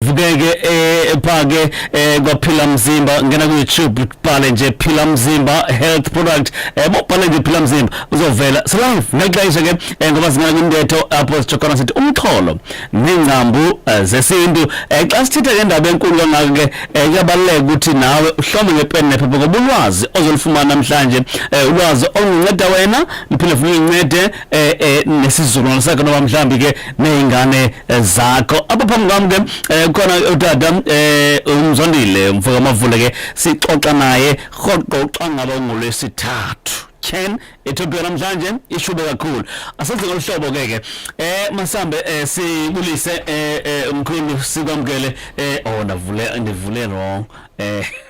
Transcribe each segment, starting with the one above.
vukeke ephake eh, eh, kwaphila mzimba ngena ku YouTube bhale nje phila mzimba health product yabo eh, bhale nje phila mzimba uzovela so live ngexesha ke ngoba zingena kwintetho apho sijokhana sithi umxholo nengcambu zesintu xa sithetha ke indaba enkulu kangaka ke kuyabaluleka ukuthi nawe uhlome ngepeni nephepha ngoba ulwazi ozolufumana namhlanje ulwazi olunceda wena liphinde futhi lincede eh eh nesizukulwane sakhe noma mhlambi ke nezingane eh, zakho apha phambi kwami ke eh, khona utata eh umzondile umfoka mavule ke sixoxa naye rhoqo ucangaba ngolwesithathu Ken ethobiwe namhlanje ishube kakhulu asenze ngolihlobo ke ke eh masambe eh, sibulise eh, eh umkhulu sikwamkele eh oh ndavule ndivule wrong eh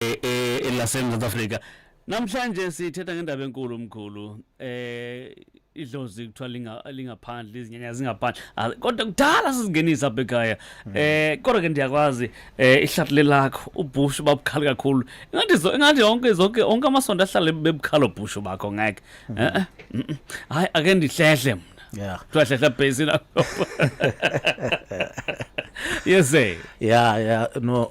eh, eh, elasemzantsi afrika namhlanje sithetha ngendaba enkulu mkhulu eh idlozi kuthiwa linga lingaphandle izinyanya zingaphandle ah, kodwa kudala sizingenisa apha ekhaya hmm. eh kodwa ke ndiyakwazi eh ihlathile lakho ubushu babukhali kakhulu ingathi ingathi yonke zonke onke amasonto ahlale bebukhala ubushu bakho ngeke hmm. eh, eh mm, mm. hayi ake ndihlehle mna yeah kuthiwa hlehla bhesi lakho yes eh yeah yeah no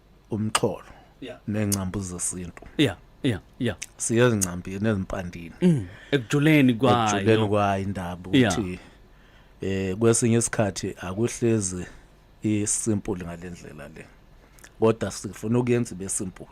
umxholo yeah. nengcambu zesintu yeah yeah yeah siyezincambini ezimpandini mm. ekujuleni kwayo ekujuleni kwayo indaba ukuthi eh kwesinye isikhathi akuhlezi isimple ngalendlela le kodwa sifuna ukuyenza ibe simple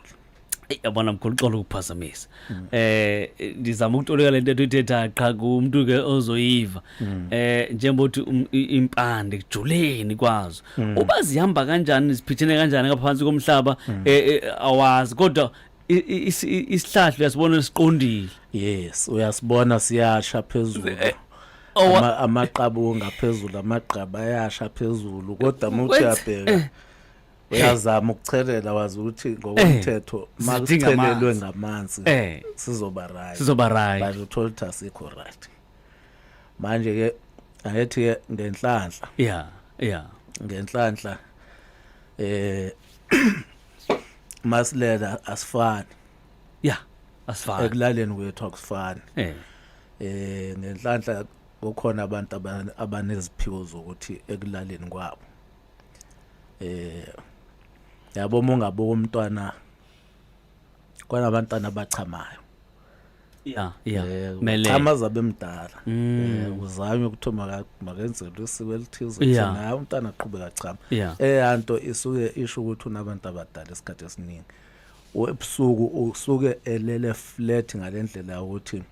yabona mkhulu uxolo ukuphazamisa mm. eh ndizama ukutoleka lento ethetha qha kumuntu ke ozoyiva mm. eh njengothi um, impande kujuleni kwazo mm. uba zihamba kanjani ziphithene kanjani ngaphansi komhlaba eh, eh, awazi kodwa isihlahla uyasibona siqondile yes uyasibona siyasha phezulu eh, amaqabunga phezulu amagqaba ayasha phezulu kodwa muthi uyabheka uyazama ukuchelela wazi ukuthi Eh. ngokomthetho ma Sidinga kuchelelwe amanzi. ngamanzi Eh. sizoba right Sizoba right. but uthola ukuthi asikho right manje ke ayethi ke ngenhlanhla Yeah, yeah. ngenhlanhla eh masilela asifani Yeah. Asifani. ekulaleni kwethu akusifani Eh. eh ngenhlanhla kukhona abantu abane- abaneziphiwo zokuthi ekulaleni kwabo eh yabo uma ungabuka umntwana kwanabantwana abachamayo ya ya eh, mele chama zabe mdala mm. eh, uzanywe ukuthi makenzelwe isiko elithize ukuthi naye umntana aqhubeka chama eh anto isuke isho ukuthi unabantu abadala esikhathi esiningi webusuku usuke elele flat ngalendlela ukuthi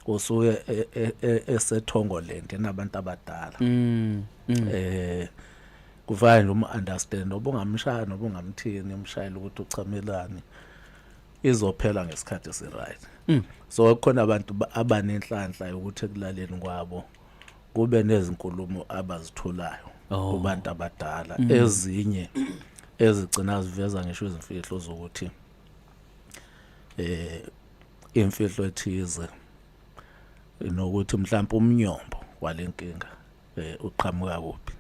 usuye e, e, e, esethongoland enabantu abadala mm, mm. eh kufanele um understand obungamshaya nobungamthini umshayile ukuthi uchamelani izophela ngesikhathi esi right mm. so kukhona abantu abanenhlanhla yokuthi ekulaleni kwabo kube nezinkulumo abazitholayo oh. kubantu abadala mm. ezinye ezigcina ziveza ngisho izimfihlo zokuthi eh imfihlo ethize nokuthi mhlawumbe umnyombo walenkinga eh uqhamuka kuphi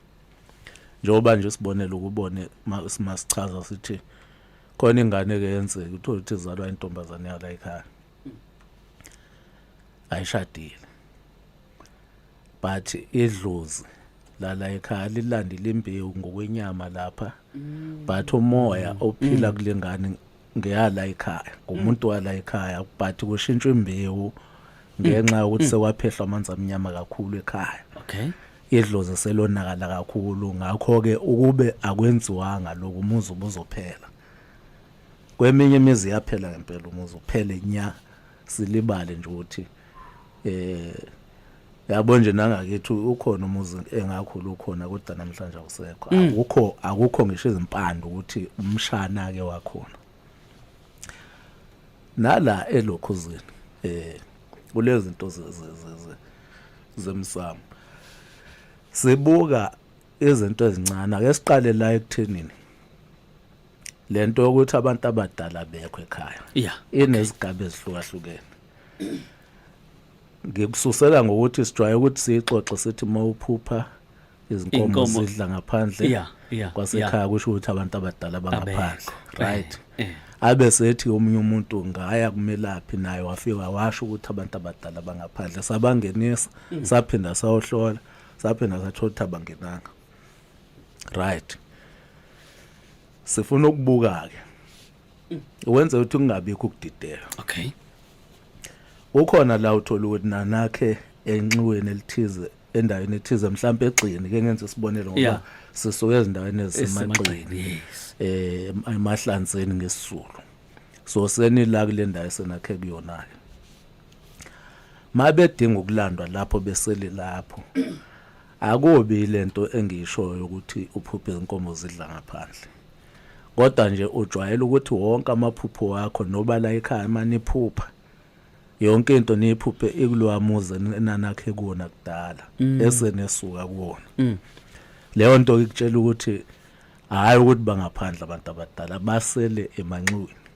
njengoba nje sibonele ukubone masichaza sithi khona ingane ke yenzeka uthola ukuthi izalwa intombazane yala ekhaya ayishadile but idlozi lala ekhaya lilandile imbewu ngokwenyama lapha mm. but umoya ophila mm. kulengane ngeyala ekhaya ngumuntu wala ekhaya but kushintshwa imbewu ngenxa yokuthi sewaphehlwa amanzi amnyama kakhulu ekhaya okay idlozi selonakala kakhulu ngakho ke ukube akwenziwanga lokhu umuzi ubuzophela kweminye imizi yaphela ngempela umuzi uphele nya silibale nje ukuthi eh yabo nje nangakithi ukhona umuzi engakhulu ukhona kodwa namhlanje awusekho mm. akukho akukho ngisho izimpande ukuthi umshana ke wakhona nala elokhuzini eh kulezi zinto zemsamo sibuka izinto ezincane ake siqale la ekuthenini lento yokuthi abantu abadala bekho ekhaya yeah inezigaba ezihlukahlukene ngikususela ngokuthi sijwaye ukuthi sixoxe sithi mawuphupha izinkomo zidla ngaphandle yeah yeah kwasekhaya kusho ukuthi abantu abadala bangaphandle right eh, eh. abe sethi omunye umuntu ngaya kumelaphi naye wafika washo ukuthi abantu abadala bangaphandle sabangenisa mm. saphinda sawohlola saphinda sathola ukuthi abangenanga right sifuna ukubuka ke wenze ukuthi kungabikho ukudideka okay ukhona la uthola ukuthi nanakhe enxiweni elithize endaweni ethize mhlawumbe egxini ke ngenza isibonelo ngoba yeah. sisuke ezindaweni ezisemagxini yes. eh emahlanzeni ngesizulu so senila kule ndawo senakhe kuyona ke mabedinga ukulandwa lapho beseli lapho Akubi lento engiyishoyo ukuthi uphuphe inkomo zidla ngaphandle. Kodwa nje ujwayele ukuthi wonke amaphupho wakho noba la ekhaya maniphupha yonke into niyiphuphe ikulowa muzi enanakhe kuwona kudala mm. esenesuka kuwona. Mm. Leyo nto ikutshela ukuthi hayi ukuthi bangaphandle abantu abadala basele emanxiweni.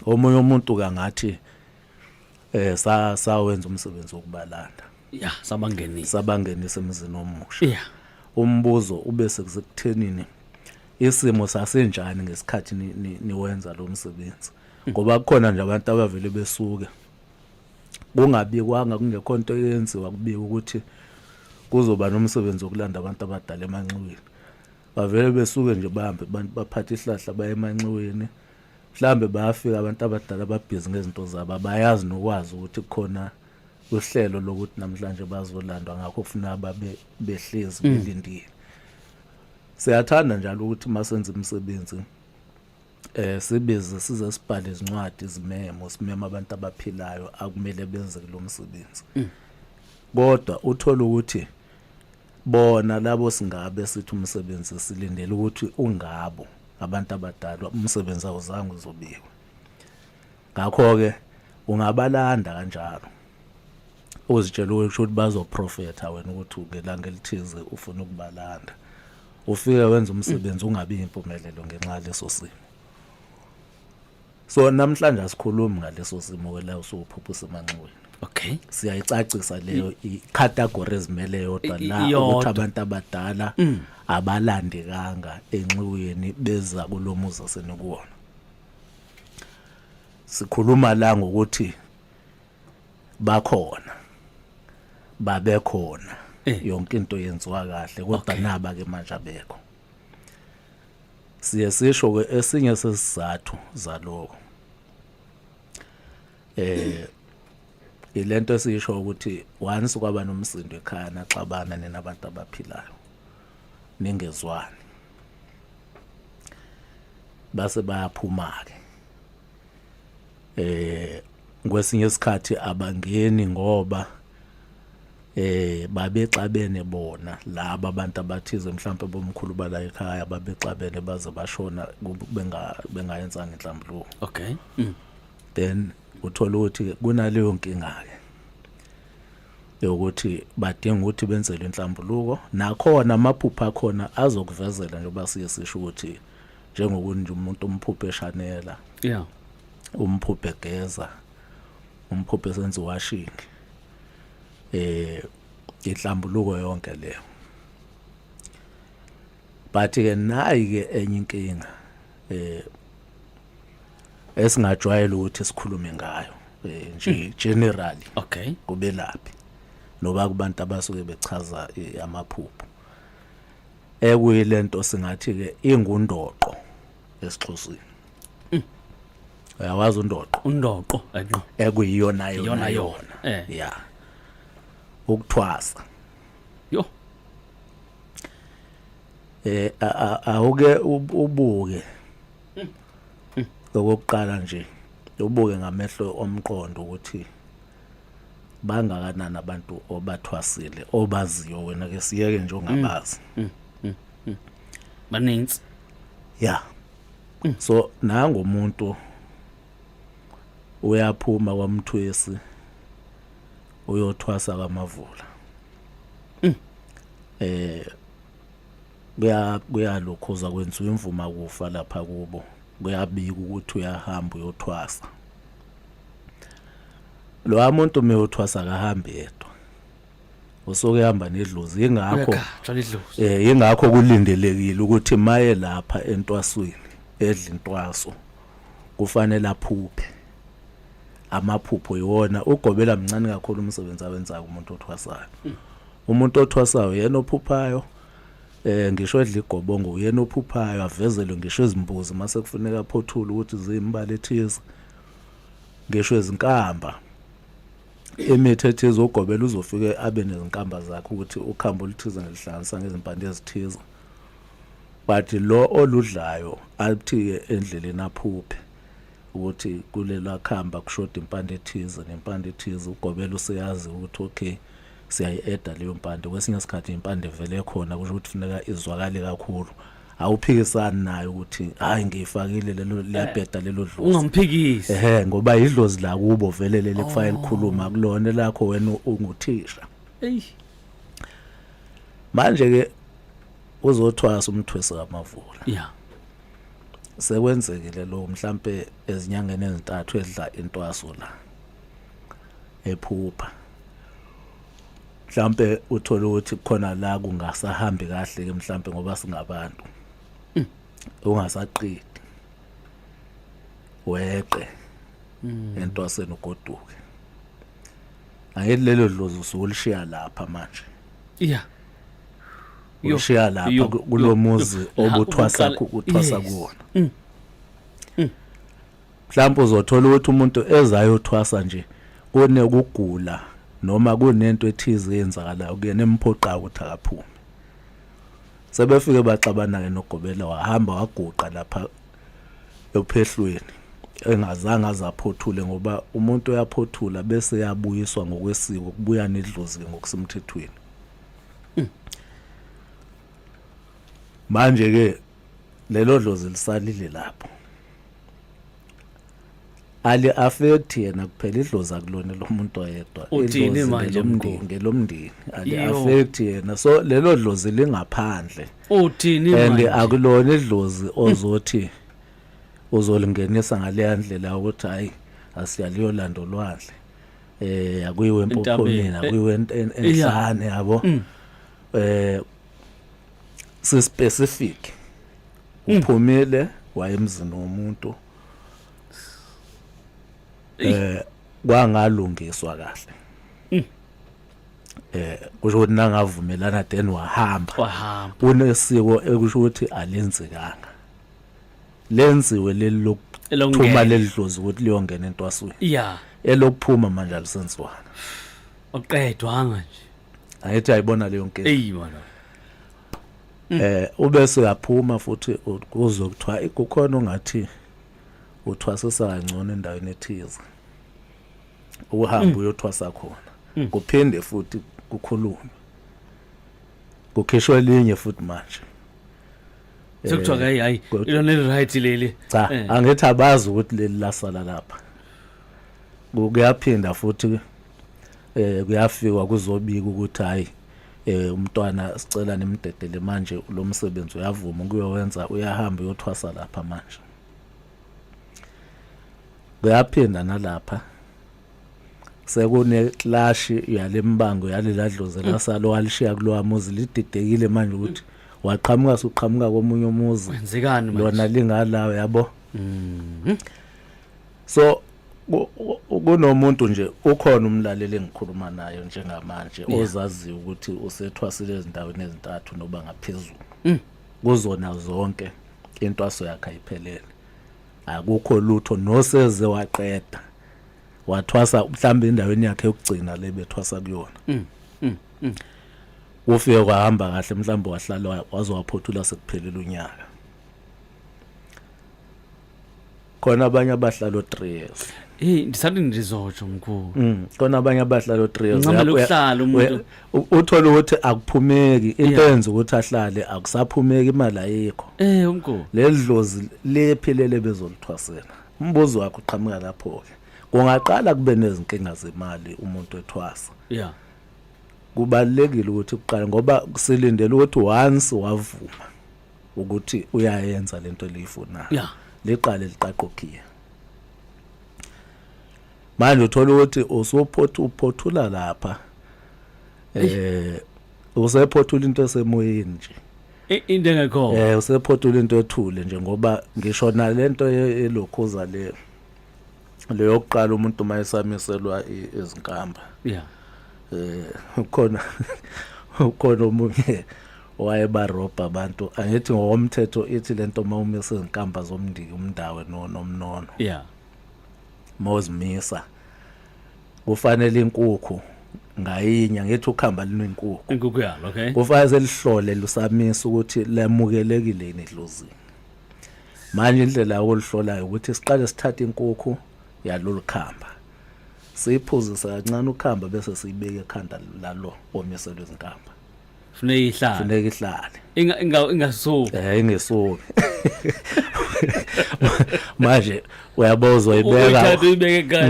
Omunye umuntu kangathi eh sa sawenza umsebenzi wokubalanda. ya sabangenisa sabangenisa emzini omusha ya umbuzo ube sekuthenini isimo sasenjani ngesikhathi ni- ni- niwenza lo msebenzi ngoba kukhona nje abantu abavele besuke kungabikwanga kungekho nto eyenziwa kubika ukuthi kuzoba nomsebenzi wokulanda abantu abadala emanxiweni bavele besuke nje bahambe abantu baphathe ihlahla baye emanxiweni mhlawumbe bayafika abantu abadala babhizi ngezinto zabo abayazi nokwazi ukuthi kukhona uhlelo lokuthi namhlanje bazolandwa ngakho kufuna babe behlezi mm. belindile siyathanda njalo ukuthi masenza imisebenzi eh sibize size sibhale izincwadi izimemo simema abantu abaphilayo akumele benze lo msebenzi mm. kodwa uthola ukuthi bona labo singabe sithi umsebenzi silindele ukuthi ungabo abantu abadalwa umsebenzi awuzange uzobikwa ngakho-ke ungabalanda kanjalo uzitshela ukuthi bazoprofetha wena ukuthi ngelanga elithize ufuna ukubalanda ufike wenza umsebenzi ungabi impumelelo ngenxa yaleso simo so namhlanje asikhulumi ngaleso simo wela usuphuphusa emanxiweni okay siyayicacisa leyo icategory ezimele yodwa la ukuthi abantu abadala mm. abalandekanga enxiweni beza kulomuzi asenikuwona sikhuluma la ngokuthi bakhona babekhona eh. yonke into yenziwa kahle kodwa naba ke manje abekho siye sisho ke esinye sesizathu zaloko eh ilento esisho ukuthi once kwaba nomsindo ekhaya naxabana nina abantu abaphilayo ningezwani base bayaphuma-ke eh kwesinye isikhathi abangeni ngoba eh babexabene bona laba abantu abathize mhlawumbe bomkhulu bala ekhaya babexabene baze bashona benga bengayenzanga inhlambuluko okay mm. then uthola ukuthi kunaleyo nkinga ke yokuthi badinga ukuthi benzelwe inhlambuluko nakhona amaphupho akhona azokuvezela njengoba siye sisho ukuthi njengokunje umuntu umphuphe eshanela yeah umphuphe geza umphuphe senze washing eh inhlambuluko yonke leyo but ke nayi ke enye inkinga eh esingajwayela ukuthi sikhulume ngayo eh, nje hmm. generally okay kubelaphi noba kubantu abasuke bechaza eh, amaphupho ekuyilento singathi ke ingundoqo esixhosini hmm. uyawazi undoqo undoqo enqo ekuyiyona yona yona eh. ya ukuthwasa yo eh awuke ubuke okokuqala nje ubuke ngamehlo omqondo ukuthi bangakanani abantu obathwasile obaziyo wena ke siyeke nje ongabazi mm, mm, mm, baninzi ya so nango umuntu uyaphuma kwamthwesi uyothwasa kamavula eh kuyalokhoza kwenziwa imvuma kufa lapha kubo kuyabika ukuthi uyahamba uyothwasa lowa muntu uma eyothwasa akahambi yedwa usuke ehamba nedlozi yingakho eh yingakho kulindelekile ukuthi maye lapha entwasweni edla intwaso kufanele aphuphe amaphupho iwona ugobela mncane kakhulu umsebenzi awenzayo umuntu othwasayo hmm. umuntu othwasayo yena ophuphayo eh ngisho edla igobongo uyena ophuphayo avezelwe ngisho izimbuzi mase kufuneka aphothule ukuthi ziyimbali ethize ngisho izinkamba imithi ethize ugobela uzofike abe nezinkamba zakhe ukuthi ukhambo oluthize ngelihlanganisa ngezimpande ezithize but lo oludlayo aluthiye endleleni aphuphe ukuthi kulela khamba kushoda impande ethize nempande ethize ugobela useyazi ukuthi okay siyayi-eda leyo mpande kwesinye isikhathi impande vele khona kusho ukuthi funeka izwakale kakhulu awuphikisani nayo ukuthi hayi ngiyifakile lelo liyabheda lelo dlozi ungamphikisi ehe ngoba idlozi la kubo vele leli kufanele oh. likhuluma kulona lakho wena unguthisha eyi manje ke uzothwasa umthwesi kamavula yeah sekwenzekile lo mhlambe ezinyangeni ezintathu edla intwaso la ephupha mhlambe uthole ukuthi khona la kungasahambi kahle ke mhlambe ngoba singabantu mm. ungasaqidi weqe mm. entwaseni ugoduke ayithi lelo dlozi usulishiya lapha manje iya ulishiya lapha kulomuzi obuthwasa kuthwasa kuwona mm. Mhlawumbe uzothola ukuthi umuntu ezayothwasa nje kunekugula noma kunento ethize eyenzakalayo kuyena emphoqayo ukuthi akaphume sebefike baxabana-ke nogobela wahamba waguqa lapha ephehlweni engazange aze aphothule ngoba umuntu uyaphothula bese yabuyiswa ngokwesiko kubuya nedlozi-ke ngokusemthethweni hmm. manje-ke lelo dlozi lisalile lapho ali affect yena kuphela idlozi akulona lomuntu oyedwa uthini manje umndeni ngelomndini ali affect yena so lelo dlozi lingaphandle uthini manje and akulona idlozi ozothi uzolingenisa ngaleya ndlela ukuthi hayi asiyaliyo lando lwandle eh akuyiwe empophomeni akuyiwe enhlane yabo mm. eh si specific hmm. uphumile wayemzini womuntu eh kwangalungiswa kahle hmm. eh kusho ukuthi nangavumelana then wahamba wahamba unesiko ekusho ukuthi alenzekanga lenziwe leli lokuthuma lelidlozi ukuthi liyongena entwasweni yeah elokuphuma manje alisenziwana oqedwanga nje ayethi ayibona leyo nkinga eyi mana mm. eh ube siyaphuma futhi kuzo kuthiwa kukhona ongathi uthwasisa kangcono endaweni ethize uhamba mm. uyothwasa khona mm. kuphinde futhi kukhulume kukhishwa elinye futhi manje sekuthiwa eh, hayi hayi ilona eli right leli cha eh. angithi abazi ukuthi leli lasala lapha kuyaphinda futhi eh kuyafikwa kuzobika ukuthi hayi eh umntwana sicela nimdedele manje lo msebenzi uyavuma ukuyowenza uyahamba uyothwasa lapha manje kuyaphinda nalapha sekune clash yalembango yaleladlozi lasalo walishiya kulowa muzi lididekile manje ukuthi waqhamuka suqhamuka komunye umuzi wenzekani manje lona lingalawo yabo mhm so kunomuntu nje ukhona umlaleli engikhuluma nayo njengamanje ozaziyo ukuthi usethwasile ezindaweni ezintathu noba ngaphezulu mm. kuzona zonke intwaso yakhe ayiphelele akukho lutho noseze waqeda wathwasa mhlawumbe endaweni yakhe yokugcina le bethwasa kuyona mm, mm, ufike kwahamba kahle mhlawumbe wahlala wazowaphothula sekuphelile unyaka khona abanye abahlala o-3 years Hey ndisathi ndizotsho mkhulu. Mm. Kona abanye abahlala o3 years. Ngicela ukuhlala umuntu. Uthola ukuthi akuphumeki into yenza ukuthi ahlale akusaphumeki imali ayikho. Eh umkhulu. Ledlozi lephilele bezolithwasela. Umbuzo wakho uqhamuka lapho ke. Kungaqala kube nezinkinga zemali umuntu ethwasa. Yeah. Kubalekile ukuthi kuqale ngoba silindele ukuthi once wavuma. ukuthi uyayenza lento eliyifunayo yeah. liqale liqaqokhiya manje uthola ukuthi usuphotha uphothula lapha eh usephothula into esemoyeni nje into engekho eh usephothula into ethule nje ngoba ngisho nalento elokhoza le leyo kuqala umuntu uma esamiselwa izinkamba yeah eh ukhona ukhona omunye wayeba robha abantu angithi ngokomthetho ithi lento uma umisa izinkamba zomndiki umndawe no nomnono yeah mozimisa kufanele inkukhu ngayinye ngithi ukhamba linenkukhu inkukhu yalo okay kufanele lihlole lusamisa ukuthi lamukelekile yini idlozini manje indlela yokuluhlolayo ukuthi siqale sithathe inkukhu yalolu khamba siyiphuzise kancane ukhamba bese siyibeke ekhanda lalo omiselwe izinkamba funeka ihlale funeka ihlale inga inga ingasuki eh ingasuki manje uyabo uzoyibeka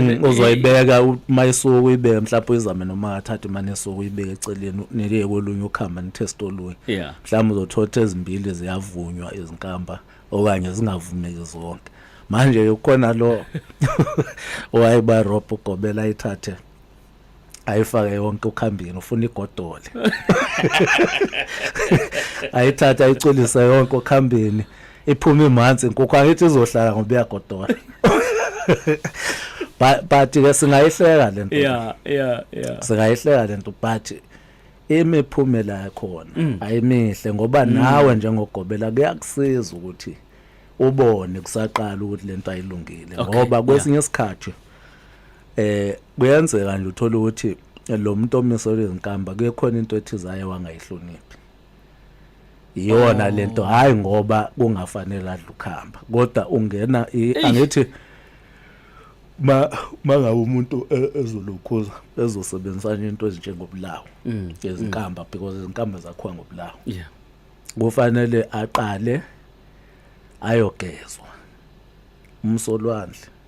mm, uzoyibeka uma isuke uyibeke mhlawumbe uyizame noma athathe imane isuke uyibeke eceleni nike kolunye ukhamba nitest olunye mhlawumbe uzothotha ezimbili ziyavunywa izinkamba okanye zingavumeki zonke manje ukhona lo owayebarobha ugobela ayithathe ayifake yonke ukhambini ufuna igodole ayithatha ayiculise yonke okhambini iphume imanzi inkukhu angithi izohlala ngoba iyagodola but ke singayihleka lento yeah yeah yeah singayihleka lento but imiphumela yakhona mm. ayimihle ngoba mm. nawe njengogobela kuyakusiza ukuthi ubone kusaqala ukuthi lento ayilungile ngoba kwesinye isikhathi Eh kuyenzeka nje uthola ukuthi lo muntu omiselwe izinkamba kuyekhona into ethize aye wangayihloniphi. Iyona lento oh. hayi ngoba kungafanele adla ukhamba kodwa ungena angithi ma mangabe umuntu e, ezolukhuza ezosebenzisa into ezinjengobulawo mm, izinkamba mm. because izinkamba zakhiwa ngobulawo yeah kufanele aqale ayogezwa umsolwandle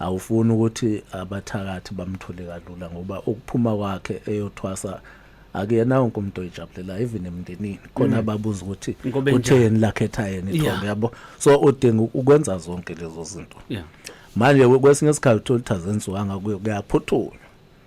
awufuni ukuthi abathakathi bamthole kalula ngoba ukuphuma kwakhe eyothwasa akuyena wonke umuntu oyijabulela even emndenini khona mm. babuza ukuthi utheni lakhetha yena ithombe yabo so udinga ukwenza zonke lezo zinto manje kwesinye isikhathi uthola ukuthi azenziwanga kuyaphuthula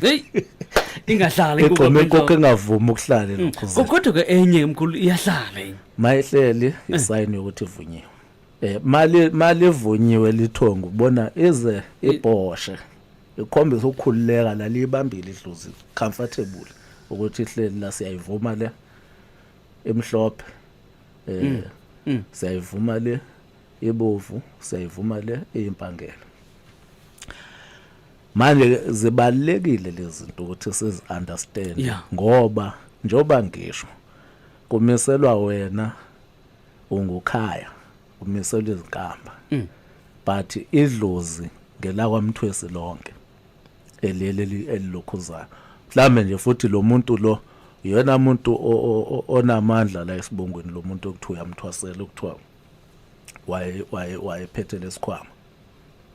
Hey. Ingahlala Igqome konke engavumi ukuhlale mm. lokho. Ko- Kodwa ke enye mkhulu iyahlala enye. Mayehleli eh. isayini yokuthi ivunyiwe. Eh mali mali evunyiwe lithongo ubona ize ibhoshe. Ikhombisa ukukhululeka la libambile idlozi comfortable ukuthi ihleli la siyayivuma le emhlophe. Eh mm. Mm. siyayivuma le ebovu siyayivuma le eyimpangela manje zibalekile lezi zinto ukuthi sizi understand yeah. ngoba njoba ngisho kumiselwa wena ungukhaya kumiselwa izinkamba mm. but idlozi ngelakwamthwesi lonke eliyeleli elilokhuzayo mhlambe nje futhi lo muntu lo yena muntu onamandla la esibongweni lo muntu okuthiwa uyamthwasela okuthiwa waye waye wayephethe lesikhwama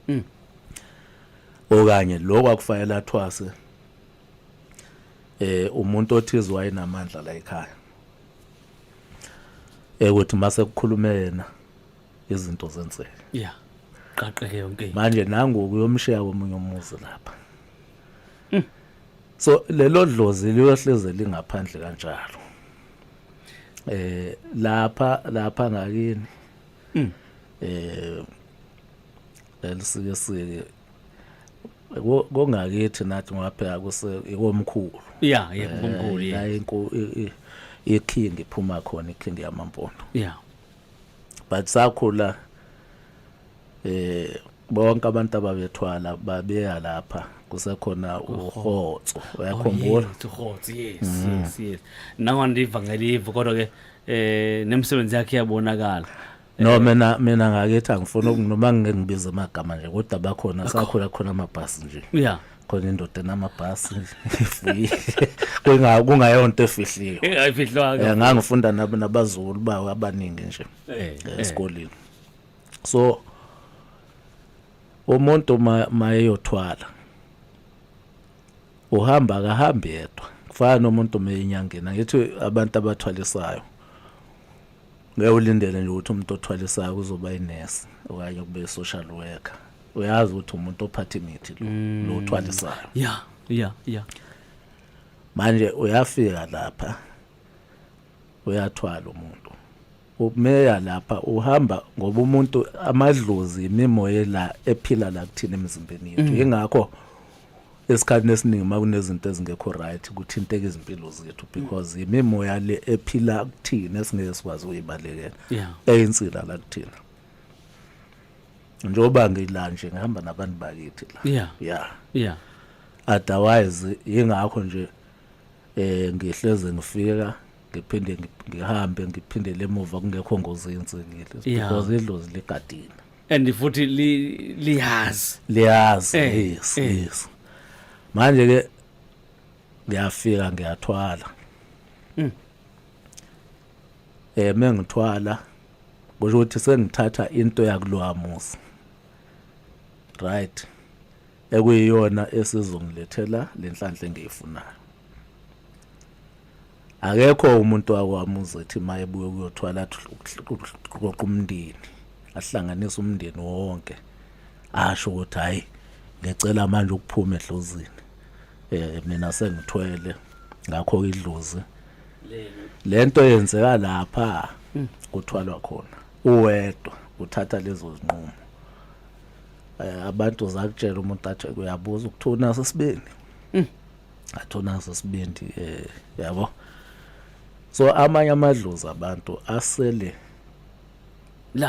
mm. okanye lokho akufanele athwase eh umuntu othize wayenamandla la ekhaya ekuthi mase kukhuluma yena izinto zenzeke yeah qaqeke yonke manje nangu kuyomshiya komunye umuzi lapha mm. so lelo dlozi liyohleze lingaphandle kanjalo eh lapha lapha ngakini mm. eh elisike sike kongakithi nathi ngwapheka kuse ikomkhulu yeah yebo eh, komkhulu la inko iking iphuma khona iking yamampondo yeah but sakhula eh bonke abantu ababethwala babeya lapha kusekhona uhotso uyakhumbula oh, uhotso yes mm. yes yes nawo ndivangeli ivu kodwa ke eh nemsebenzi yakhe yabonakala no eh, mina mina ngakethi angifuni ukunoma ngibiza amagama nje kodwa bakhona sakhula khona amabhasi nje yeah khona indoda enamabhasi ifuyile kunga kungayonto efihliwe ingayifihlwanga yeah, ngangifunda nabo nabazukulu bawo abaningi nje eh, eh. esikoleni so umuntu mayeyothwala uhamba akahambi yedwa kufana nomuntu meyinyangena ngithi abantu abathwalisayo ngeke ulindele nje ukuthi umuntu othwalisayo kuzoba inesi okanye kube i-social worker uyazi ukuthi umuntu ophatha imithi lo mm. lo uthwalisayo ya ya ya manje uyafika lapha uyathwala umuntu umeya lapha uhamba ngoba umuntu amadlozi imimoya la ephila la kuthina emzimbeni yethu mm. ingakho mm. esikhathini esiningi uma kunezinto ezingekho right kuthinteka izimpilo zethu because imimoya le ephila kuthina esingeke sikwazi ukuyibalekela Yeah. eyinsila la kuthina njengoba ngila nje ngihamba nabantu bakithi la Yeah. yeah yeah otherwise ingakho nje eh ngihleze ngifika ngiphinde ngi- ngihambe ngiphindele emuva kungekho ngozi yenzekile Yeah. because idlozi ligadina and futhi li- liyazi liyazi Eh, yes eh. yes manje ke ngiyafika ngiyathwala Mm. eh mengithwala kusho ukuthi sengithatha into yakulowa muzi right ekuyiyona esizongilethela lenhlanhla engiyifunayo akekho umuntu wakwami uzethi maye buye kuyothwala qoqa umndeni ahlanganise umndeni wonke asho ukuthi hayi ngicela manje ukuphuma edlozini eh mina sengithwele ngakho idlozi lento yenzeka lapha hmm. kuthwalwa khona uwedwa uthatha lezo zinqumo Eh, abantu zakutshela umuntu athi uyabuza ukuthi unaso isibindi mm. athi unaso isibindi um eh, yabo so amanye amadlozi abantu asele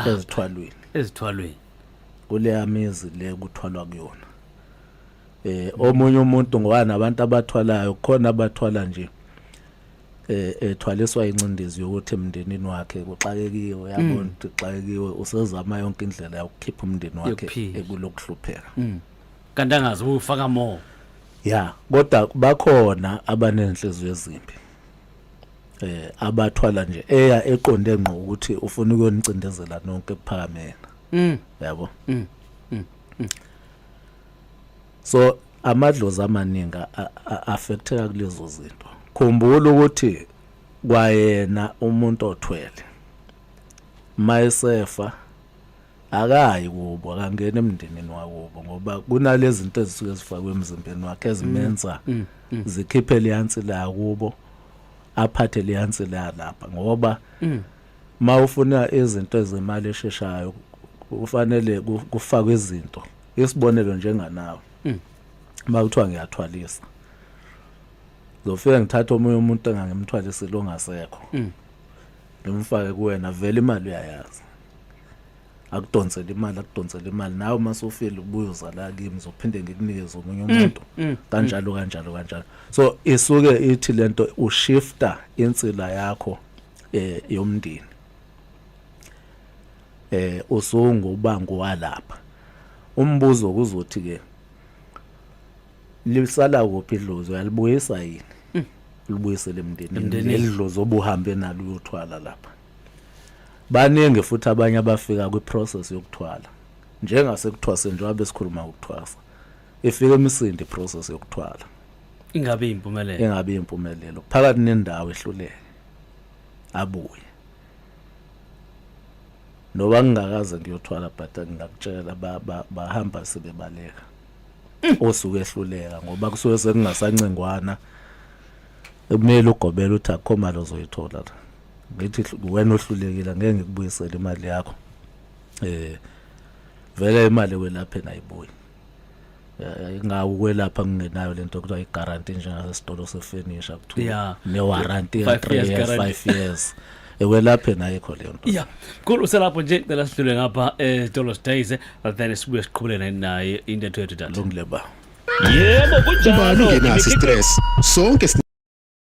ezithwalweni ezithwalweni kuleya mizi le kuthwalwa kuyona eh omunye umuntu ngoba nabantu abathwalayo khona abathwala nje eh, ethwaliswa incindezi yokuthi emndenini wakhe kuxakekiwe yabona mm. ukuthi kuxakekiwe usezama yonke indlela yokukhipha umndeni wakhe ekulokuhlupheka mm. kanti angazi ufaka more ya kodwa bakhona abanenhliziyo ezimbi eh abathwala nje eya eqonde ngqo ukuthi ufuna ukuyonicindezela nonke kuphakamena mm yabo mm, mm. mm. so amadlozi amaningi affecteka kulezo zinto khumbula ukuthi kwayena umuntu othwele mayesefa akayi kubo akangena emndenini wakubo ngoba kunalezi zinto ezisuke zifakwe emzimbeni wakhe ezimenza mm, mm, mm. zikhiphe liyansi la kubo aphathe liyansi la lapha ngoba mawufuna izinto ezemali esheshayo kufanele kufakwe izinto isibonelo njenganawe mm. uma kuthiwa ngiyathwalisa zofika ngithatha omunye umuntu engangimthwalisile ongasekho mm. ngimfake kuwena vele imali uyayazi akudonsele imali akudonsele imali nawe uma sofile ubuye uzala kimi zophinde ngikunikeze omunye mm, umuntu mm, mm. kanjalo kanjalo kanjalo so isuke ithi lento ushifta insila yakho eh yomndeni eh usungu ubangu walapha umbuzo kuzothi ke lisala kuphi idlozi uyalibuyisa yini mm. libuyisele emndenini elidlozi obuhambe nalo uyothwala lapha baningi futhi abanye abafika kwi process yokuthwala njengase kuthwase njengoba besikhuluma ukuthwasa ifike emisindi process yokuthwala ingabe impumelelo ingabe impumelelo phakathi nendawo ehluleke abuye noba ngingakaze ngiyothwala but ngingakutshela bahamba sebebaleka mm. osuke ehluleka ngoba kusuke sekungasancengwana kumele ugobele uthi akukho mali ozoyithola la ngithi wena ohlulekile ngeke ngikubuyisele imali yakho eh vele imali welaphe nayibuyi Eh, ngawukwelapha ngingenayo lento kuthiwa i-guarantee njengasesitolo sefurniture kuthiwa yeah. ne-warranty ya 3 years 5 years ewelaphe naye kho leyo nto ya khulu uselapho nje cela sidlule ngapha esitolo eh, sidays eh, then sibuye siqhubelene naye intetho yethu tata lungile ba yebo kunjalo ubani ngenaso stress sonke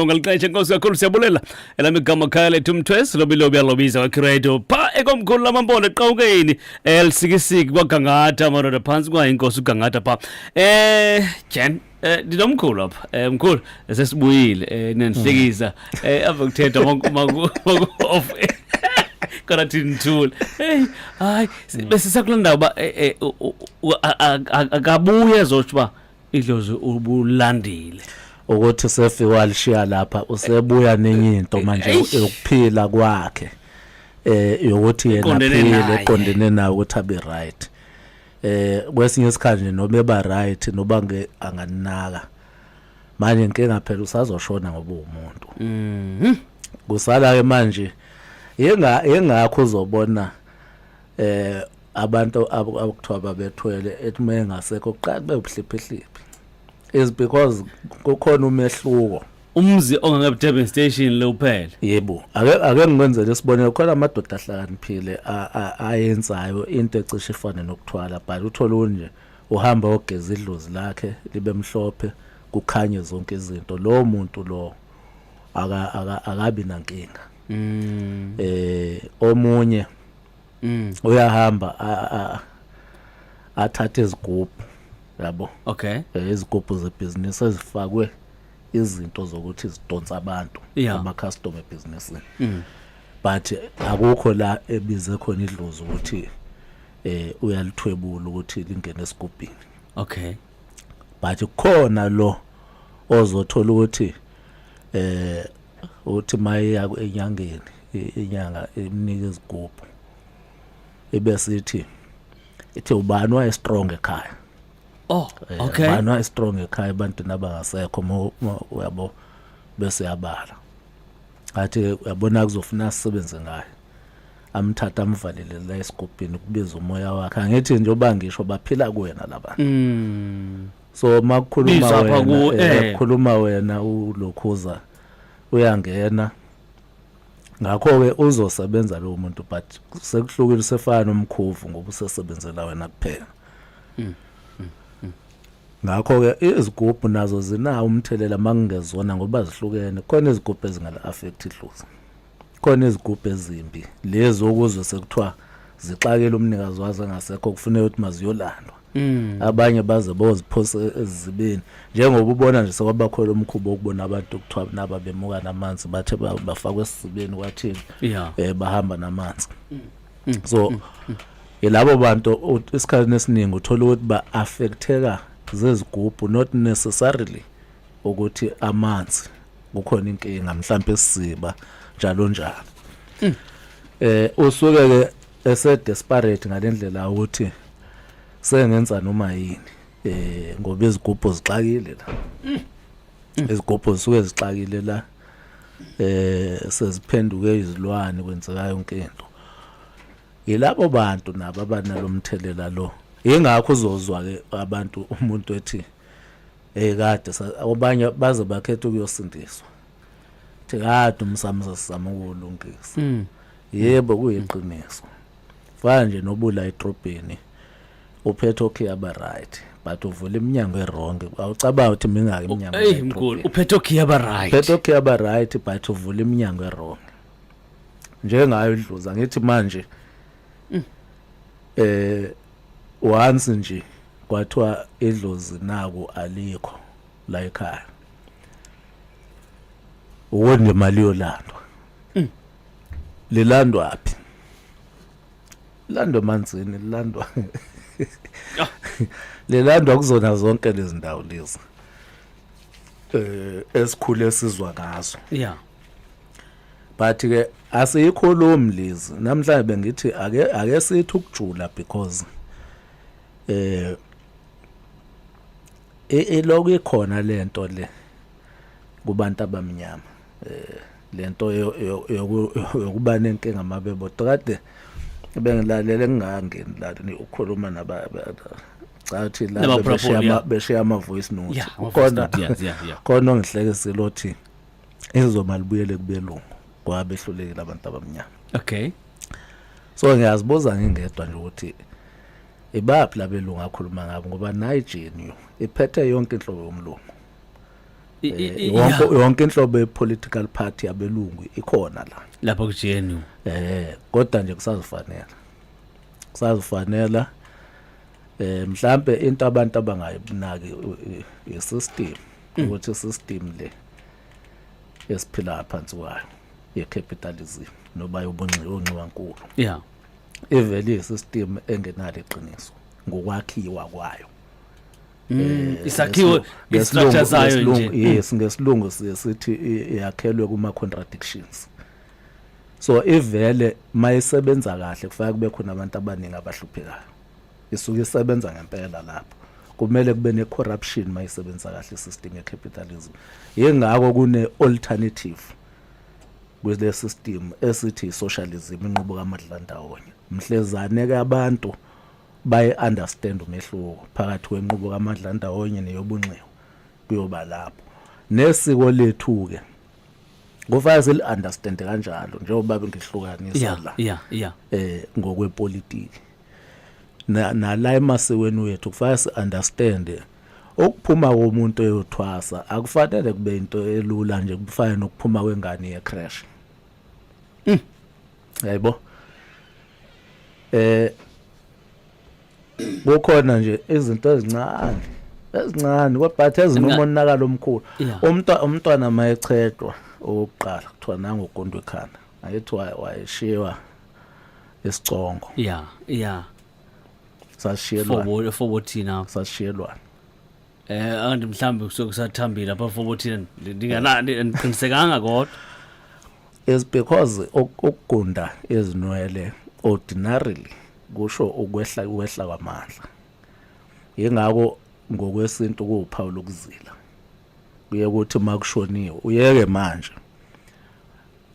ngaliqeshe nkosi kakhulu siyabulela elami igama khaya lethu mthwesi lobilobi alobiza wakhiredo pha ekomkhulu lamampondo eqawukeni elisikisiki kwagangatha amadoda phantsi kwayo inkosi ugangatha pha eh jen Eh ndinomkhulu apha. Eh mkhulu sesibuyile eh nenhlekisa eh ave kuthetha maku off. Kana thinthule. Hey hayi bese sakulanda uba eh, eh, akabuye ezothi uba idlozi ubulandile ukuthi sefi walishiya lapha usebuya nenye into manje yokuphila kwakhe eh yokuthi yena phile eqondene nayo ukuthi abe right eh kwesinye isikhathi nje noma eba right noba nge anganinaka manje inkinga phela usazoshona ngoba umuntu mhm kusala ke manje yenga yengakho uzobona eh abantu abakuthiwa babethwele ethi uma engasekho kuqala kube ubuhliphihliphi is because kukhona umehluko umzi ongangebe Durban station lo kuphela yebo ake ake ngikwenzele isibonelo khona amadoda ahlakaniphile ayenzayo into ecishe ifane nokuthwala but uthola unje uhamba ogeza idlozi lakhe libe mhlophe kukhanye zonke izinto lo muntu lo akabi nankinga mm. eh omunye Mm. uyahamba a- a- athathe izigubhu yabo Okay. Eh, izigubhu zebhizinisi ezifakwe izinto zokuthi zidonsa abantu Yeah. Mm. ama-customer ebhizinisini but akukho la ebize khona idlozi ukuthi eh uyalithwebula ukuthi lingene esigubhini Okay. but khona lo ozothola ukuthi eh uthi mayeya enyangeni inyanga imnika izigubhu ibe sithi ithi ubani waye strong ekhaya oh eh, okay ubani waye strong ekhaya abantu nabangasekho uyabo bese yabala athi uyabona kuzofuna sisebenze ngayo amthatha amvalele la esigubhini kubiza umoya wakhe angithi njengoba ngisho baphila kuwena labantu mm. so makukhuluma Bizwa apha wena ku- eh, eh. kukhuluma wena ulokhuza uyangena ngakho-ke uzosebenza lowo muntu but sekuhlukile usefana nomkhuvu ngoba usesebenzela wena kuphela ngakho-ke izigubhu nazo zinawo umthelela uma kungezona ngoba zihlukene khona izigubhu ezingala-affect idlozi khona izigubhu ezimbi lezi okuzwe sekuthiwa zixakele umnikazi wazo engasekho kufuneka ukuthi maziyolandwa Mm. abanye baze boziphose ezibeni njengoba ubona nje sekwabakhona umkhubo wokubona abantu kuthiwa naba bemuka namanzi bathe ba- bafakwe esizibeni kwathini Yeah. eh bahamba namanzi so yilabo bantu u- isikhathi esiningi uthola ukuthi ba affecteka zezigubhu not necessarily ukuthi amanzi kukhona inkinga mhlawumbe isiziba njalo njalo hmm. eh usuke ke ese desperate ngalendlela ukuthi sengenza noma yini eh ngoba izigubhu zixakile la hmm. izigubhu zisuke zixakile la eh seziphenduke izilwane kwenzeka yonke into yilabo bantu nabo abanalomthelela lo ingakho uzozwa ke abantu umuntu ethi Hey kade obanye baze bakhetha ukuyosindiswa. Thi kade umsamo sasizama ukulungisa. Mm. Yebo kuyiqiniso. Fana nje nobula etrobheni uphethe okay aba right but uvula iminyango erong awucabanga ukuthi mingaki iminyango eyi mkhulu uphethe okay aba right uphethe okay aba right but uvula iminyango erong njengayo idluza ngithi manje mm. eh once nje kwathiwa idlozi naku alikho la ekhaya uwo nje mali yolandwa mm. lilandwa phi lilandwa emanzini lilandwa ah. lilandwa kuzona zonke lezi ndawo lezi eh esikhule sizwa ngazo yeah but ke asiyikhulumi lezi namhlanje bengithi ake ake sithi ukujula because eh eloku e, ikhona lento le kubantu abamnyama eh lento yokuba nenkinga mabebo kade bengilalele ngingangeni la ukhuluma naba cathi la beshiya beshiya ama voice note khona khona ongihlekisile othi izoma libuyele kubelungu kwabehlulekile abantu abamnyama okay so ngiyazibuza ngingedwa nje ukuthi ibaphi labelungu akhuluma ngabo ngoba nayi GNU iphethe yonke inhlobo yomlungu eh, wonke yonke inhlobo yepolitical party yabelungu ikhona la lapha ku GNU eh kodwa nje kusazifanela kusazifanela eh mhlambe into abantu abangayibinaki isystem mm. ukuthi system le esiphila phansi kwayo ye capitalism noba yobunxiwa onxiwa nkulu yeah ivele iyisystem engenalo iqiniso ngokwakhiwa kwayo mm, eh, isakhiwo istructure sayo nje yes ngesilungu sithi yakhelwe kuma contradictions so ivele mayisebenza kahle kufanele kube khona abantu abaningi abahluphekayo isuke isebenza ngempela lapho kumele kube ne corruption mayisebenza kahle system ye capitalism yengakho kune alternative kule system esithi socialism inqubo kamadlandawonye mhlezane ke abantu baye understand umehluko phakathi kwenqubo kamadlandawonye neyobunxiwa kuyoba lapho nesiko lethu ke kufanele sili understand kanjalo njengoba bengihlukanisa la yeah yeah eh ngokwepolitiki na nala emasikweni wethu kufanele si understand ukuphuma komuntu eyothwasa akufanele kube into elula nje kufana nokuphuma kwengane ye crash hmm. yayibo eh kukhona nje izinto ezincane ezincane kodwa ezinomonakalo omkhulu umntwana umntwana mayechethwa owokuqala kuthiwa nangogondo ekhanda ayethiwa wayeshiwa esicongo yeah yeah sashiyelwa fobo fobo thina sashiyelwa eh anti mhlambi kusuke kusathambile apha fobo thina ndinganani ndiqinisekanga kodwa is because ukugunda izinwele ordinarily kusho ukwehla ukwehla kwamandla yingakho ngokwesintu kuwuphawu lokuzila kuye ukuthi makushoniwe uyeke manje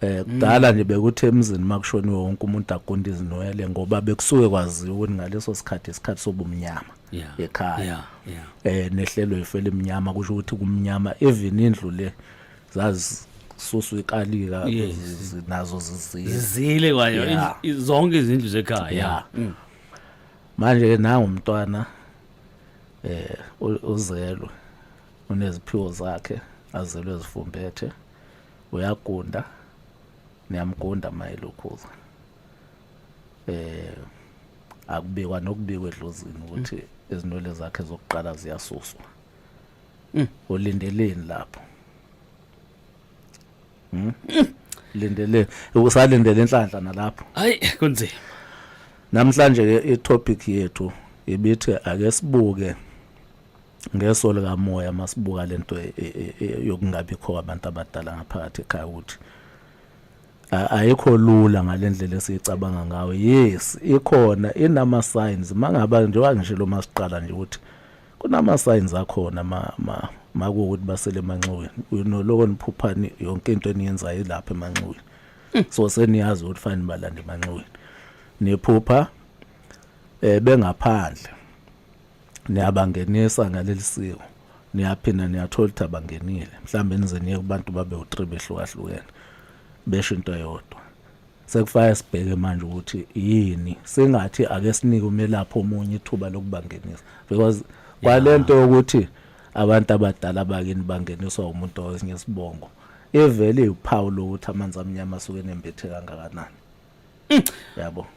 Eh kudala nje bekuthi emzini makushoniwe wonke umuntu agunde izinwele ngoba bekusuke kwaziwa ukuthi ngaleso sikhathi isikhathi sobumnyama Yeah. ekhaya. Yeah, yeah. Eh nehlelo ifele imnyama kusho ukuthi kumnyama even indlu le zazisusu ikalika Yes. zi- zi- nazo zizile. Zizile kwayo Yeah. i- i- zonke izindlu zekhaya. Yeah. Mm. Manje ke nangu umntwana eh u- uzelwe uneziphiwo zakhe azelwe zifumbethe uyagunda niyamgunda mayelukhulu eh akubikwa nokubikwa edlozini ukuthi mm. izinwele zakhe zokuqala ziyasuswa mm. ulindeleni lapho hmm? mm. lindele usalindele inhlanhla nalapho hayi kunzima namhlanje ke itopic yethu ibithi ake sibuke ngeso likamoya masibuka lento e, e, e, yokungabikho kwabantu abadala ngaphakathi ekhaya ukuthi ayikho lula ngalendlela esicabanga ngayo yes ikhona inama signs mangaba njengoba ngisho lo masiqala nje ukuthi kunama signs akhona ma ma makuwukuthi basele emanxiweni uyinoloko niphuphani yonke into eniyenzayo ilapha emanxiweni hmm. so seniyazi ukuthi fanele balande emanxiweni niphupha eh bengaphandle niyabangenisa ngaleli siko niyaphinda niyathola ukuthi abangenile mhlawumbe nize niye kubantu babe u-three behlukahlukene besho into eyodwa sekufanele sibheke manje ukuthi yini singathi ake sinike umelaphi omunye ithuba lokubangenisa because kwalento yokuthi abantu abadala bakini bangeniswa umuntu owesinye isibongo ivele iwuphawu lokuthi amanzi amnyama asuke enembethe kangakanani Mm. Yabo.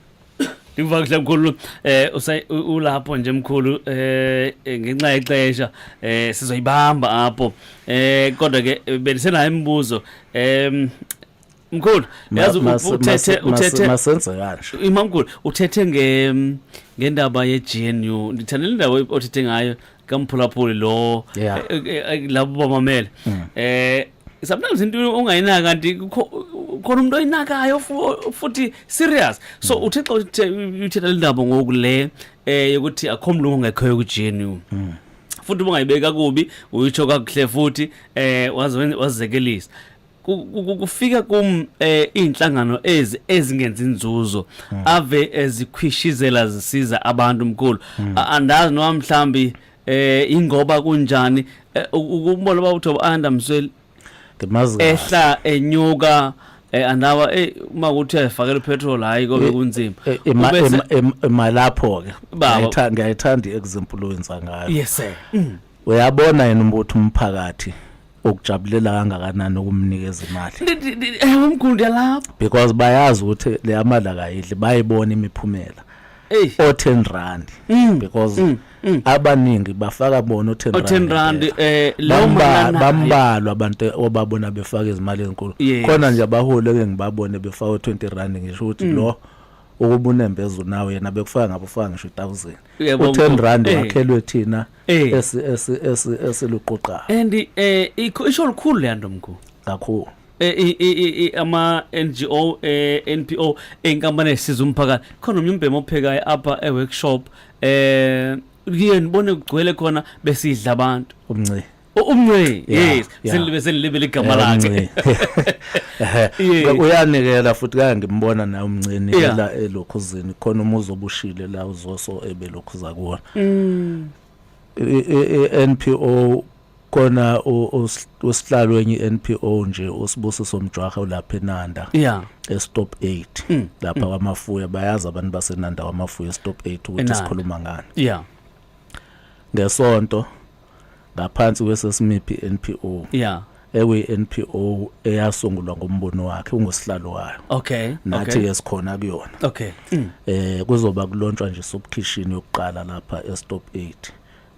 Ngivakisha mkhulu eh ulapho nje mkhulu eh ngenxa yexesha eh sizoyibamba apho eh kodwa ke belisenayo imibuzo em mkhulu yazi uthethe uthethe masenze kanje imamkhulu uthethe nge ngendaba ye GNU ngithanda le ndawo othethe ngayo kamphulaphuli lo eh, eh, eh, labo bamamele mm. eh sometimes into ongayinaka kanti khona umuntu oyinakayo futhi serious so hmm. uthixo uthetha le ndaba ngoku le um yokuthi akho mlungu ongekhoyo kujenu hmm. futhi ubungayibeki kakubi uyitsho kakuhle futhi eh wazekelisa kufika kum eh, izinhlangano ezi ezingenza inzuzo hmm. ave ezikhwishizela zisiza abantu mkhulu hmm. andazi noma mhlambi eh ingoba kunjani eh, ukubona baba uthoba anda msweli ngimazi ehla enyuka eh andawa eh uma kuthi ayifakela petrol hayi kobe eh, kunzima eh, emalapho ke ngiyayithanda ngiyayithanda example owenza ngayo yes sir mm. uyabona yena umbuthi umphakathi ukujabulela kangakanani ukumnikeza imali eh, umkhulu yalapho because bayazi ukuthi le amali akayidli bayibona imiphumela o 10 rand mm, because mm, mm. abaningi bafaka bona o 10 rand eh lawo manana bambalwa abantu obabona befaka izimali ezinkulu khona nje abaholi ke ngibabone befaka o 20 rand ngisho ukuthi lo mm. ukuba unembeza unawo yena bekufaka ngabo ufaka ngisho 1000 u10 rand eh. wakhelwe thina Eh. esi esi esi esiluquqa and eh ikho- isho lukhulu le nto mkhulu kakhulu Eh, i- i- i- i- ama NGO eh, NPO inkampani esiza umphakathi khona omnye umbhemu ophekayo apha e workshop eh kuye nibone kugcwele khona besidla abantu umnci U- umnce Yeah. yes selibe selibe ligama lakhe uyanikela futhi kaya ngimbona naye umncini la elokhuzini khona umuzi obushile la uzoso ebelokhuza kuwona mm. NPO kona usihlalo wenye NPO nje usibusiso mjwaha ulapha eNanda yeah estop 8 mm. lapha mm. kwamafuya bayazi abantu baseNanda kwamafuya estop 8 ukuthi sikhuluma ngani yeah ngesonto ngaphansi kwesesimiphi NPO yeah ekwi NPO eyasungulwa ngombono wakhe ungosihlalo wayo okay nathi ke okay. sikhona kuyona okay mm. eh kuzoba kulontshwa nje sobukhishini yokuqala lapha eStop 8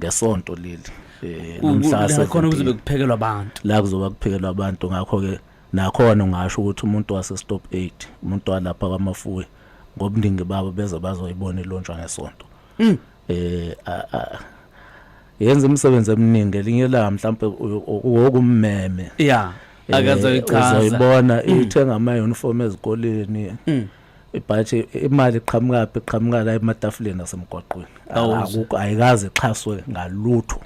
ngesonto leli eh nomhlase khona kuzobe kuphekelwa abantu la kuzoba kuphekelwa abantu ngakho ke nakhona ungasho ukuthi umuntu wase Stop 8 umuntu walapha kwaMafuwe ngobuningi babo beze bazoyibona ilontshwa ngesonto mm. eh yenza umsebenzi eminingi elinye la mhlawumbe wokummeme yeah eh, akazoyichaza uzoyibona mm. ithenga ama uniform ezikoleni mm. ibhathi imali iqhamuka phi iqhamuka la ematafuleni asemgwaqweni akukho ayikaze ixhaswe ngalutho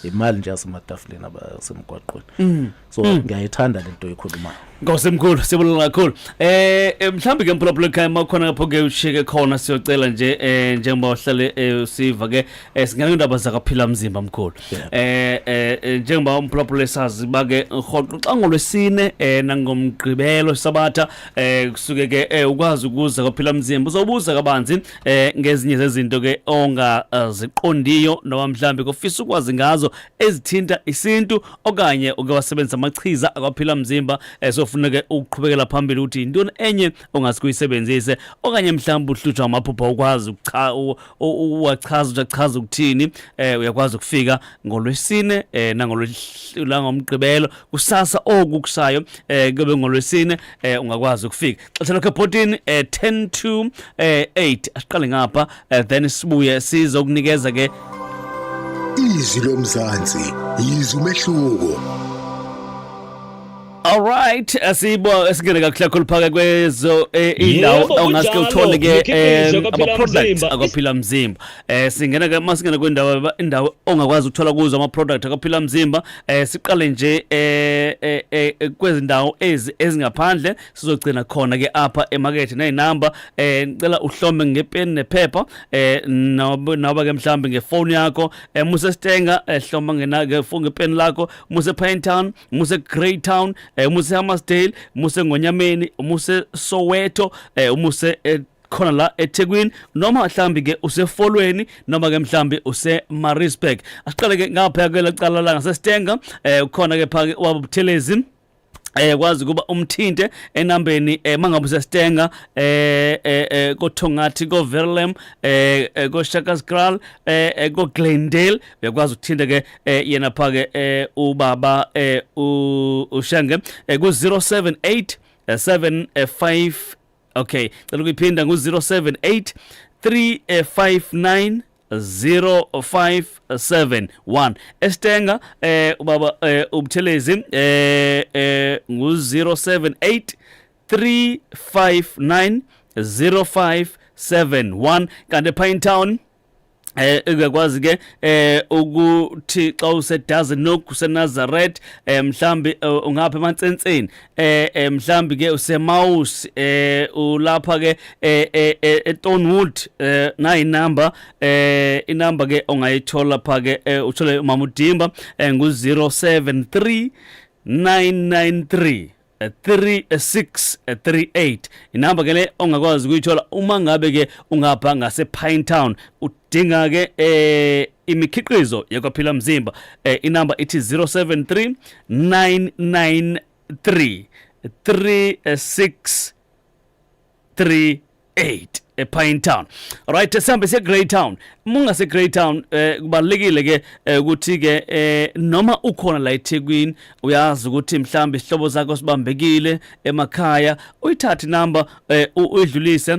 imali nje yasematafuleni abasemgwaqweni mm. so mm. ngiyayithanda lento ekhulumayo Nkosi mkhulu sibulala kakhulu eh, eh mhlambi ke mphulaphula ekhaya makhona lapho ke ushike khona siyocela nje eh njengoba uhlale eh, usiva ke eh, singena indaba zakaphila mzimba mkhulu eh, eh njengoba umphulaphula esazi bake rhoqo xa ngolwesine eh nangomgqibelo sabatha eh kusuke ke ukwazi ukuza kaphila mzimba uzobuza kabanzi eh ngezinye zezinto ke ongaziqondiyo eh, noma mhlambi kofisa ukwazi ngazo ezithinta isintu okanye uke wasebenzisa amachiza akwaphila mzimba esofuneke eh, ukuqhubekela phambili ukuthi intoni enye ongasikuyisebenzise okanye mhlambi uhlutshwa amaphupha ukwazi ukucha uwachaza uchachaza ukuthini eh uyakwazi ukufika ngolwesine eh nangolwesine ngomgqibelo kusasa okukusayo eh kube ngolwesine eh ungakwazi ukufika xesha lakho ebhotini um eh, 10 to um eh, 8 asiqale ngapha um then sibuye sizokunikeza ke izwi lomzansi yizwi umehluko Alright, asibo esingene kakuhle kakhulu phaka kwezo eh, indawo ongaske uthole ke eh, ama products akaphila mzimba. Eh singena ke masingena kwendawo indawo ongakwazi ukuthola kuzo ama products akaphila mzimba. Eh siqale nje eh, eh kwezindawo ezi ezingaphandle sizogcina khona ke apha emakethe nezinamba eh ngicela uhlome ngepeni nephepha eh noba ke mhlambi ngefoni yakho eh muse stenga eh hloma ngena ke foni ngepeni lakho muse Pine Town muse Greytown eh muse Hammarsdale muse Ngonyameni muse Soweto eh muse eh, khona la eThekwini noma mhlambi ke usefolweni noma ke mhlambi useMaritzburg asiqale ke ngapha ke lacala la ngaseStenga eh ukhona ke phake wabuthelezi eh kwazi kuba umthinte enambeni eh mangabe usestenga eh, eh eh kothongathi ko Verlem eh, eh ko Shakaskral eh, eh ko Glendale uyakwazi ukuthinte ke yena phake eh ubaba eh ushenge ku 078 75 okay cela ukuyiphinda ngu 078 359 0571 estenga eh ubaba eh ubuthelezi eh eh ngu 078 359 0571 kanti Pine Town eh uyakwazi ke eh ukuthi xa usedazi noku seNazareth eh mhlambi eh, ungapha emantsenseni eh, eh mhlambi ke useMaus eh ulapha ke eh, eh, eh eTonwood eh nayi number eh inumber ke ongayithola pha ke eh, uthole umama uDimba eh, ngu 073 993 3638 inamba ke le ongakwazi ukuyithola uma ngabe ke ungapha ngase Pine Town dinga ke eh imikhiqizo yekwaphila mzimba eh, inamba ithi 073 993 36 3 8 ePine Town right sihambe siye Grey Town munga se Grey Town eh kubalekile ke eh, ukuthi ke eh, noma ukhona la eThekwini uyazi ukuthi mhlambi isihlobo zakho sibambekile emakhaya uyithathe number eh, uyidlulise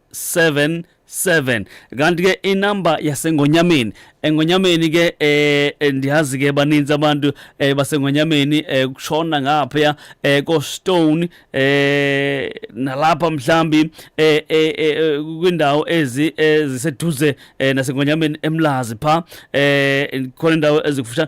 7 7 kanti ke inamba yasengonyameni engonyameni ke eh, eh ndiyazi ke baninzi abantu eh, basengonyameni eh, kushona ngapha eh, ko stone eh, nalapha mhlambi eh, eh, eh, kwindawo ezi eziseduze eh, nasengonyameni emlazi pha eh khona indawo ezikufusha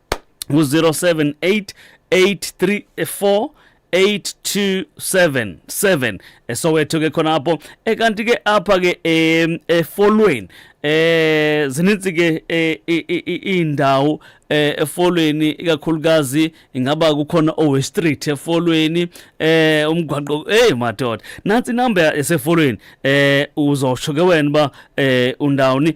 ngu-078 834 8277 esowetho ke khona apho ekanti ke apha ke efolweni eh zininzi ke eh, indawo eh, efolweni ikakhulukazi ingaba kukhona owe street efolweni eh umgwaqo hey madoda nansi number esefolweni eh uzosho ke wena ba eh undawuni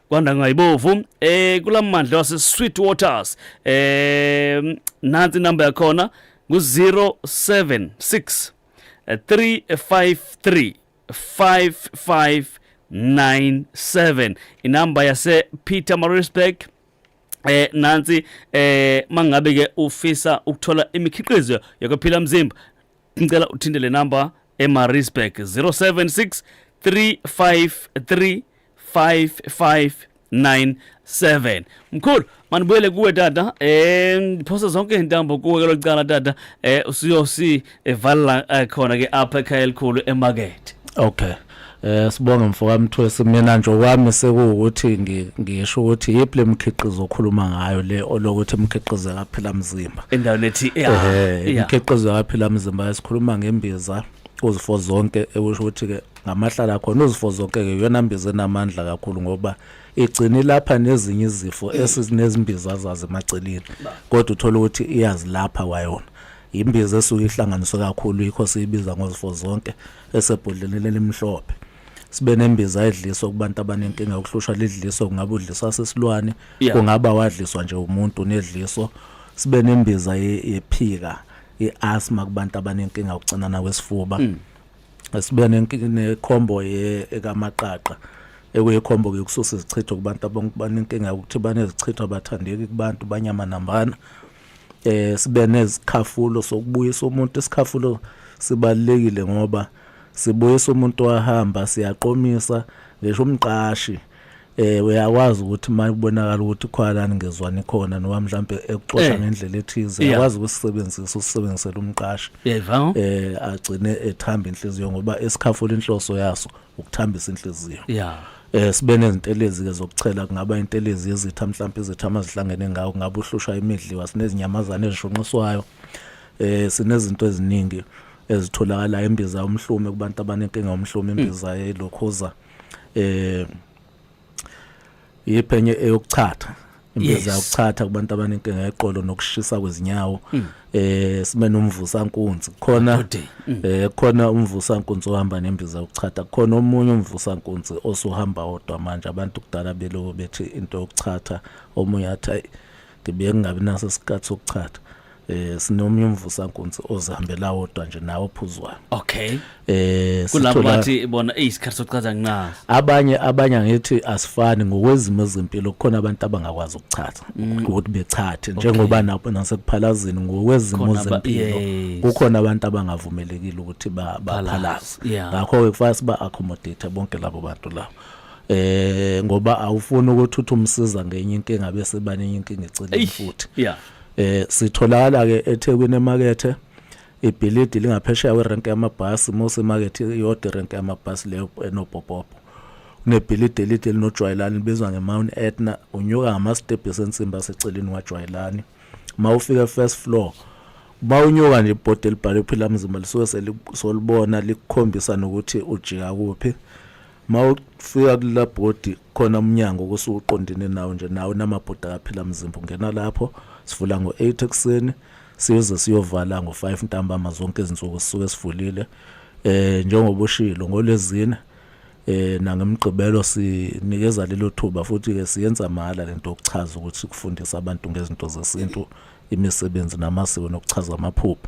kwandangayibovu eh kulamandla wase sweet waters eh nansi number yakhona ngu 076 353 5597 inamba yase Peter Marisburg eh nansi eh mangabe ke ufisa ukuthola imikhiqizo yokuphila mzimba ngicela uthinte le number eMaritzburg 076 353 5597 mkhulu manibuyele kuwe tata eh ngiphosa zonke intambo kuwe ke locala tata eh usiyosi evala eh, khona ke apha ekhaya elikhulu emarket okay Eh sibonga mfokamthwesi mina nje okwami sekuwukuthi ngisho ukuthi yipi lemkhiqizo okhuluma ngayo le olokuthi imkhiqizo kaphila mzimba. Endaweni ethi eh imkhiqizo kaphila mzimba esikhuluma ngembiza uzifo zonke ekusho ukuthi ke ngamahlala khona uzifo zonke ke yona mbiza enamandla kakhulu ngoba igcini lapha nezinye izifo esizinezimbiza zazo emaceleni kodwa uthola ukuthi iyazilapha kwayona imbiza esuke ihlanganiswe kakhulu yikho siyibiza ngozifo zonke esebhodleleni elimhlophe sibe nembiza edliswa kubantu abanenkinga yokuhlushwa lidliso kungaba udliswa sesilwane Yeah. kungaba wadliswa nje umuntu nedliso sibe nembiza ye- yephika i-asthma kubantu abanenkinga yokucinana kwesifuba Mm. sibe nenki- nekhombo ye- ekamaqaqa ekuyikhombo-ke yokususa izichitho kubantu abang- banenkinga yokuthi banezichitho abathandeki kubantu banyamanambana eh sibe nezikhafulo sokubuyisa umuntu isikhafulo sibalekile ngoba sibuyisa umuntu wahamba siyaqomisa ngisho umqashi eh uyakwazi ukuthi uma kubonakala ukuthi khwalani ngezwani khona noma mhlambe ekuxosha eh. ngendlela ethize uyakwazi ukusebenzisa usebenzisela umqashi eh agcine ethamba inhliziyo ngoba esikhafula inhloso yaso ukuthambisa inhliziyo yeah eh sibe nezintelezi ke zokuchela kungaba intelezi yezitha mhlawumbe izitha amazihlangene ngawo kungaba uhlushwa imidliwa sinezinyamazane ezishunqiswayo eh sinezinto eziningi ezitholakala embiza umhlume kubantu abanenkinga umhlume imbiza yelokhoza eh yiphenye eyokuchatha impeza yokuchatha kubantu abanenkinga yeqolo nokushisa kwezinyawo hmm. eh sime nomvusa nkunzi khona hmm. eh khona umvusa nkunzi ohamba nembiza yokuchatha khona omunye umvusa nkunzi osuhamba odwa manje abantu kudala beloku bethi into yokuchatha omunye athi ngibuye kungabi naso isikhathi sokuchatha eh sinomnye umvusa nkunzi ozihambela wodwa nje nawo phuzwayo okay eh kulabo bathi bona ey isikhathi sokuchaza nqazi abanye abanye ngithi asifani ngokwezimo ezempilo kukhona abantu abangakwazi ukuchatha mm. ukuthi bechathe njengoba nabo nasekuphalazini ngokwezimo zempilo kukhona abantu abangavumelekile ukuthi baphalaze ngakho ke kufanele siba accommodate bonke labo bantu labo eh ngoba awufuni ukuthi uthi umsiza ngenye inkinga bese baningi inkinga eceleni futhi yeah eh sitholakala ke eThekwini emakethe ibhilidi lingaphesheya werenk yamabhasi mose market iyodwa irenk yamabhasi leyo enopopopo kunebhilidi elide linojwayelani libizwa ngemount etna unyuka ngamastebhisi ensimbi aseceleni kwajwayelani uma ufika first floor uma unyuka nje ibhodi elibhalwe phila mzimba lisuke solibona likukhombisa nokuthi ujika kuphi ma ufika kula bhodi khona umnyango kusuke uqondene nawo nje nawo namabhodi akaphila mzimba ungena lapho sivula ngo-eight ekuseni siyoze siyovala ngo-five ntambama zonke izinsuku sisuke sivulile eh njengoba ushilo ngolezine eh nangemgqibelo sinikeza lelo thuba futhi ke siyenza mahala lento yokuchaza ukuthi kufundisa abantu ngezinto zesintu imisebenzi namasiko nokuchaza amaphupho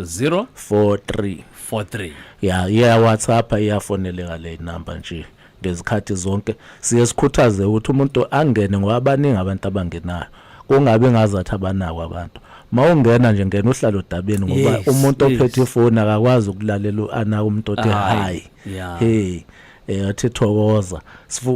0 43 43 ya iya WhatsApp iyafoneleka le number nje ngezikhathi zonke siye sikhuthaze ukuthi umuntu angene ngoba abaningi abantu abangenayo kungabe ngazathi abanako abantu mawungena nje ngena uhlala odabeni ngoba umuntu ophethe ifoni akakwazi ukulalela anaka umuntu othe hayi hey eh athi thokoza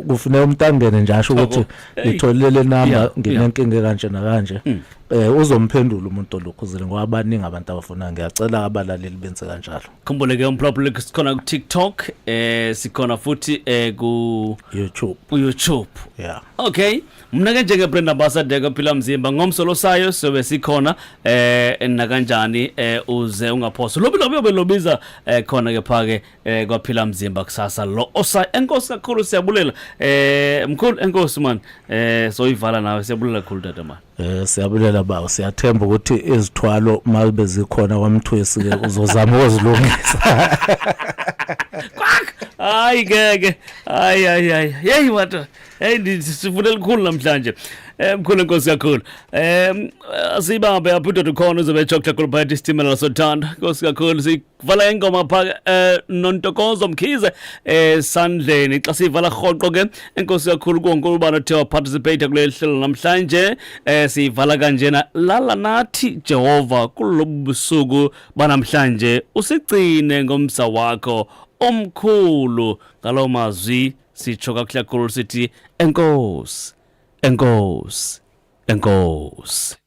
kufuneka umtangene nje asho ukuthi ngitholele number nginenkinga kanje nakanje mm. eh uzomphendula umuntu olukhuzile ngoba abaningi abantu abafuna ngiyacela abalaleli benze kanjalo khumbule ke umproblem sikhona ku TikTok eh sikhona futhi eh ku YouTube ku YouTube yeah okay mna ke njenge Brenda Ambassador ke phila mzimba ngomso losayo sobe sikhona eh nakanjani eh uze ungaphosa lobi lobi obelobiza eh khona ke phake eh kwaphila mzimba kusasa lo osa enkosi kakhulu siyabulela eh mkhulu enkosi man eh soyivala nawe siyabulela kakhulu tata man eh siyabulela baba siyathemba ukuthi izithwalo mabe zikhona kwamthwesi ke uzozama ukuzilungisa kwak hayi ngeke hayi hayi hayi hey wata hey ndisifuna elikhulu namhlanje Eh, mkhulu nkosi kakhulu um asiyibambe apho indoda ukhona uzobe etsho kuhlakulubhayitha isitimela sothanda nkosi kakhulu kuvala ngengoma pha eh, nontokozo mkhize esandleni eh, xa siyivala rhoqo ke enkosi kakhulu konke ubana othe waparticipate kuleli hlelo namhlanje eh, siyivala kanjena lala nathi jehova kulobu busuku banamhlanje usigcine ngomsa wakho omkhulu ngaloo mazwi sitsho kakuhle kakhulu sithi enkosi enkosi enkosi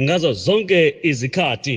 ngazo zonke izikhathi